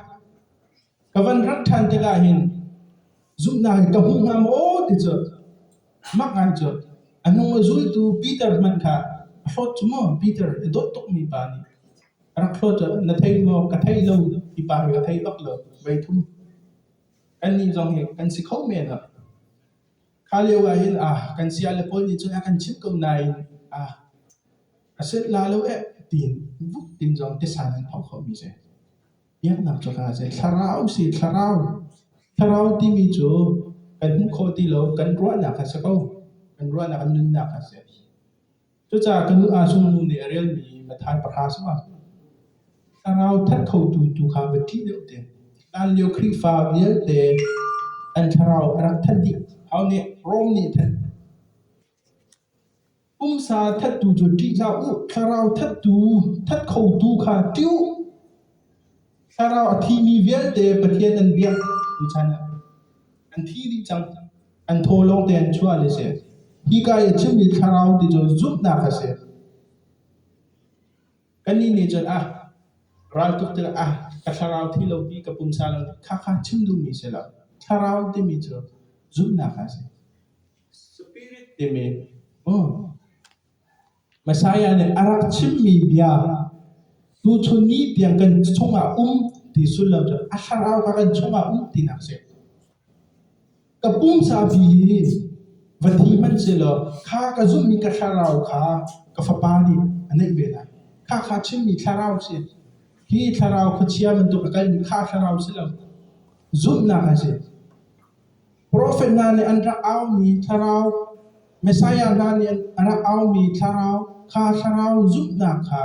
Ka van rak ṭhan tikah hin zumhnak hi ka hmu hnga maw ti cu mak ngai cu a hnu a zultu Peter hmanh kha a hlawt cu maw Peter a dawt tukmi pa nih An thluat ah na theih maw? Ka theih lo. Mipa hi ka theih bak lo. Voi thum. Kannih zong hi kan si kho men ah. Kha lio ah hin ah kan siale pawl nih cun a kan chimh ko nain ah a set la lo eh tiin vuk tin zong tisan an thok khomi si. Biaknak cu kaa si. Thlarau si thlarau. Thlarau timi cu kan hmuh khawh ti lo. Kan ruahnak a si ko. Kan ruahnak a nunnak a si. Cucaah ka nu Asung nu nih a relmi Mathan pahra cu a thlarau that khotu tu kha va ṭih deuh te. Hlan lio Khrihfa vialte an thlarau a rak that dih. Thau nih Rom nih a thanh. Pumsa thattu cu ṭih hlah u, thlarau thattu, that khotu kha ṭih u. Thlarau a thimi vialte Pathian an biak. Tuchan ah an thi dih cang an thaw lawng te an chuah le si hika i chimmi thlarau ti cu zumhnak a si kannih nih cun ah raltuk tuk ah ka thlarau thi lo ti ka pumsa lo ti kha kha chim duhmi si lo thlarau timi cu zumhnak a si spirit timi oh Messiah nih a rak chimmi bia, tuchun ni tiang kan chungah um ti sul lo cun a thlarau kha kan chungah um tinak a si. Ka pumsa fi hi va thi hmanh selaw kha ka zumhmi ka thlarau kha ka fapa nih a neih ve lai. Kha kha chimmi thlarau si. Hi thlarau khuachia bantuk a kalmi kha thlarau si lo. Zumhnak a si. Profet hna nih an rak aumi thlarau, Messiah hna nih a rak aumi thlarau, kha thlarau zumhnak kha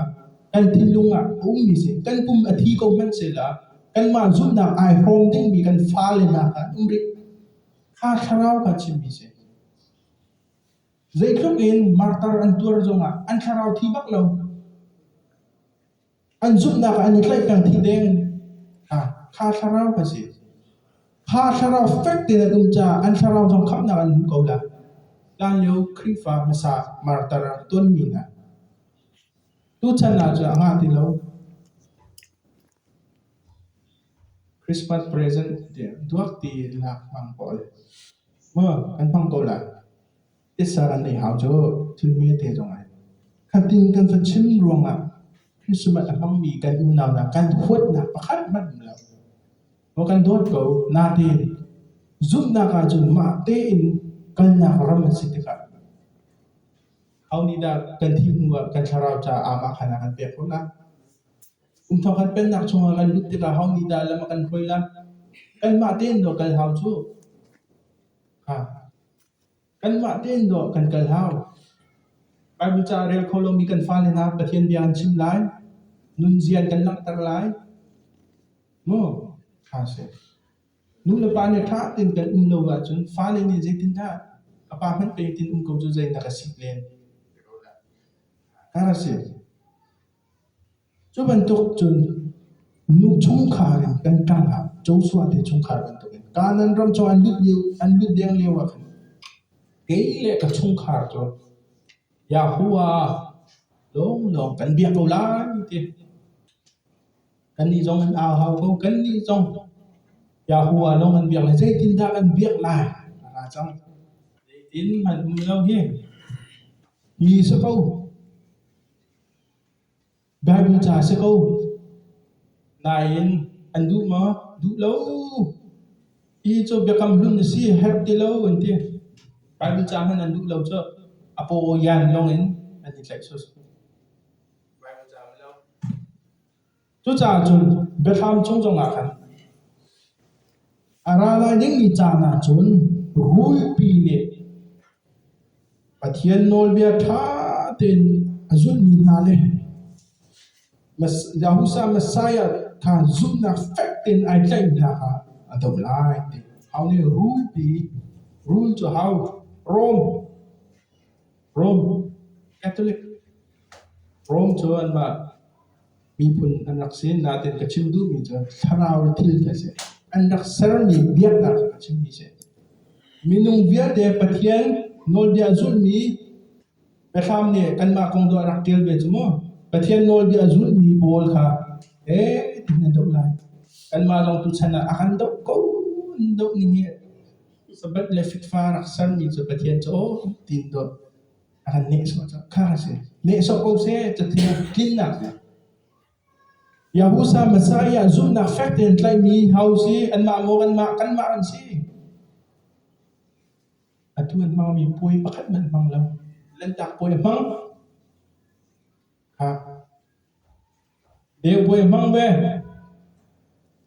kan thinlung ah a ummi si. Kan pum a thi ko hmanhsehlaw kanmah zumhnak ai hrawm dingmi kan fale hna kha an um rih. Kha thlarau kha chimmi si. Zeitluk in martar an tuar zongah an thlarau thi bak lo. An zumhnak ah an i tlaih peng dih ding. Ha, kha thlarau ka si. Kha thlarau fek tein an um caah an thlarau zong khamhnak an hmu ko la. Hlanlio Khrihfa hmasa martar ah tonmi hna. Tuchan ah cu a ngah ti lo. Christmas present dia duak ti lak mang pawl. Mo kan hmang ko la. Tisa kan ei hau cu thil hmete zong ai. Khatin kan va chim ruangah Christmas a hmangmi kan unau hna kan huatnak pakhat hmanh um lo. Maw kan dawt ko, nate. Zumhnak ahcun mah tein kalnak ram a si tikah hau nih dah kan thih hnu ah kan thlarau caah aamah khan a kan pek ko na. Um thawk kan pennak chungah kan lut tikah hau nih dah lam a kan hruai la. Kan mah tein do kal hau cu. Ha. Kanmah tein dawh kan kal hau. Baibal ca a rel kho lomi kan fale hna Pathian bia an chim lai. Nunzia in kan langhter lai. Maw? Ṭha a si. Nu le pa nih ṭha tein kan um lo ahcun fale nih zeitindah a pa hmanh peitin um ko cu zeinak a sik len? Ti ko hlah. Hngar a si. Cu bantuk cun nu chungkhar in kan ṭang ah Joshua te chungkhar bantuk in Kanaan ram chung an lut lio an lut deng lio ah khan kei le ka chungkhar cu Yahuwah lawnglawng kan biak ko lai ti kannih zong an au hau ko kannih zong Yahuwah lawng an biak lai zeitindah kan biak lai a ra cang zeitin an um lo hi ti si ko. Baibal ca a si ko. Nain an duh maw? Duh lo. Hi cu Biakam Hlun a si, herh ti lo an ti. Baibal ca hmanh an duh lo cu a pawyan lawngin an i tlaih sawsawh. Baibal ca hmanh lo. Cucaah cun biahram chung zongah khan a ra lai dingmi caan ah cun rulpi nih Pathian nawlbia ṭha tein a zulmi hna le Yahushua Messiah kha zumhnak fek tein ai tlaihmi hna kha a do lai ti hau nih rul pi rul cu hau Rom Rom Catholic Rom cu an mah Miphun an rak si. Natin ka chim duhmi cu thlarau le thil hi a si. An rak sermi biaknak a chimmi si. Minung vialte Pathian nawlbia zulmi biahram nih kanmah kong tuah rak ṭial ve cu mu. Pathian nawlbia zulmi pawl kha e tihin an doh lai. Kanmah lawng tuchan ah a kan doh ko doh ning hi sabat le fitfa rak sermi cu Pathian cu aw tiin tuah. a kan nehsawh cang kha a si nehsawh ko seh cathiang tlinnak Yahusa Messiah zumhnak fek tein tlaihmi ho si anmah maw anmah kanmah an si atu an hmangmi puai pakhat man hmang lo lantak puai a hmang ha Beubuai a hmang ve.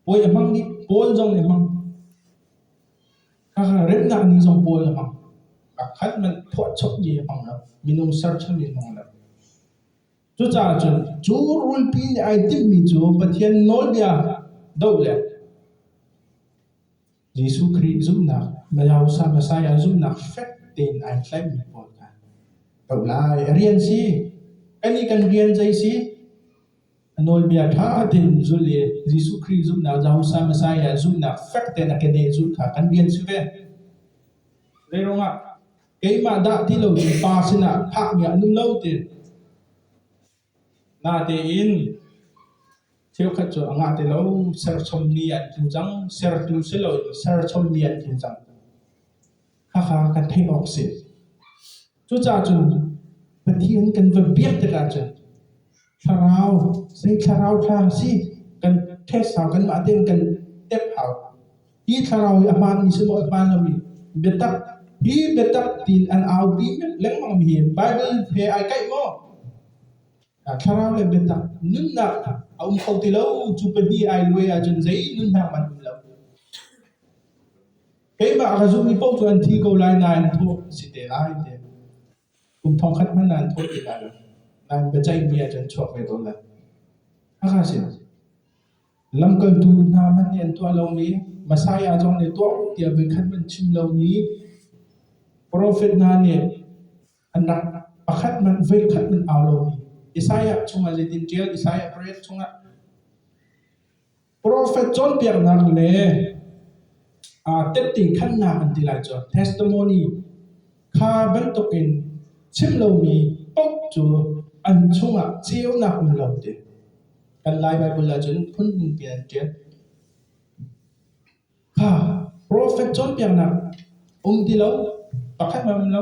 Puai a hmang dih. Pawl zong nih a hmang. Khakha remnak ni zong pawl a hmang. A khat hmanh phuahchawp mi a hmang lo. Minung sercham mi a hmang lo. Cucaah cun cu rulpi nih ai timhmi cu Pathian nawlbia doh le Jesuh Khrih zumhnak, Masa Messiah zumhnak fek tein ai tlaihmi pawl kha doh lai. A rian si, kan i kan rian zei si? A nawlbia ṭha tein zulh i Jesuh Khrih zumhnak, Masa Messiah zumhnak fek tein a keneh zulh kha kan rian si ve. Zeiruangah? Keimah dah ti loin Pa sinah phakmi a nung lo ti. Natein cheukhat cu a ngah ti lo. Serchommi an tlu cang. Sertu si loin serchommi an tlu cang. Khakha kan theih awk a si. Cucaah cun Pathian kan va biak tikah cun thlarau, zei thlarau ṭha si kan test hau, kanmah tein kan tep hau. Hi thlarau hi a hmaan mi silo a hmaan lo i biatak hi biatak tiin an aupi lengmang mi hi Bible he ai kaih maw? Thlarau le biatak nunnak a um kho ti lo cu pahnih ai luai ahcun zei nunnak man um lo. Keimah ka zumh mi paoh cu an thi ko lai nain thawh si te lai te. Kum thongkhat hmanh nan thawh ti lai lo. Nan biaceihmi ah cun chuak ve tawn lai. Hakha si. Lamkaltu hna hmanh nih an tuah lomi, Messiah zong nih tuah u tiah voikhat hmanh chim lomi profet hna nih an rak pakhat hmanh, voikhat hmanh au lomi Isaiah chungah zeitin ṭial? Isaiah parek chungah. Profet cawnpiaknak le aa tetti khannak an ti lai cu testimony kha bantukin chim lomi poh cu an chungah ceunak um lo ti. Kan Lai Baibal ahcun phunhmun pi an ṭial. Ha, profet cawnpiaknak um ti lo, pakhat hmanh um lo.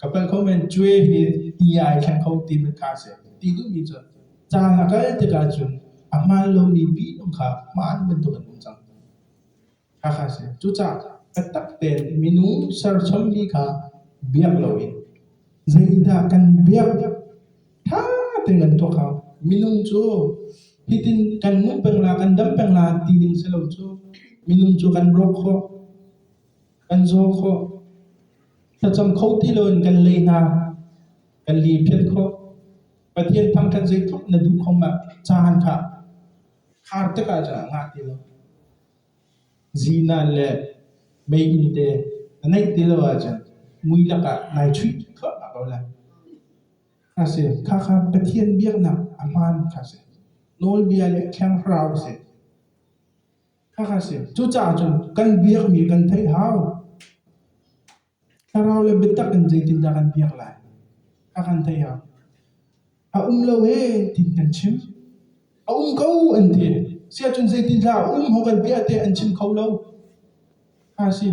Ka palh kho men cue hi i ai thleng kho ti met kha a si. Ti duhmi cu caan a kal tikah cun a hmaan lomi bihnung kha hmaan bantuk an um cang. Hakha a si. Cucaah taktak tein minung serchommi kha biak loin zeidah kan biak ṭha tein kan tuak hau. Minung cu hitin kan nung peng la, kan dam peng la ti ding si lo cu minung cu kan rawk khawh. Kan zaw khawh. Thlacam kho ti loin kan lei hna. Kan li phiat khawh. Pathian thang kan zei thawk na duh kho ma caan kha khar tikah cun a ngah ti lo. Zinan le meiinn te na neih ti lo ahcun mui lakah nai chuih khawh hna ko lai. A si, kha kha Pathian biaknak a hmaan kha si. Nawlbia le Thiang Thlarau a si. Cucaah cun kan biakmi kan theih hau. Thlarau le biatak in zeitindah kan biak lai? Kha kan theih hau. A um lo e tin kan chim. A um ko an ti. Siahcun zeitindah a um ho kan biah tiah an chim kho lo. Kha a si.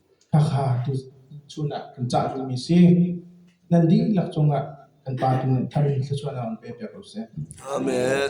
Hakha chun ah kan cah dingmi si. Nan dihlak cungah kan Pa cung in thar in thluachuah na on ve piak ko seh. Amen.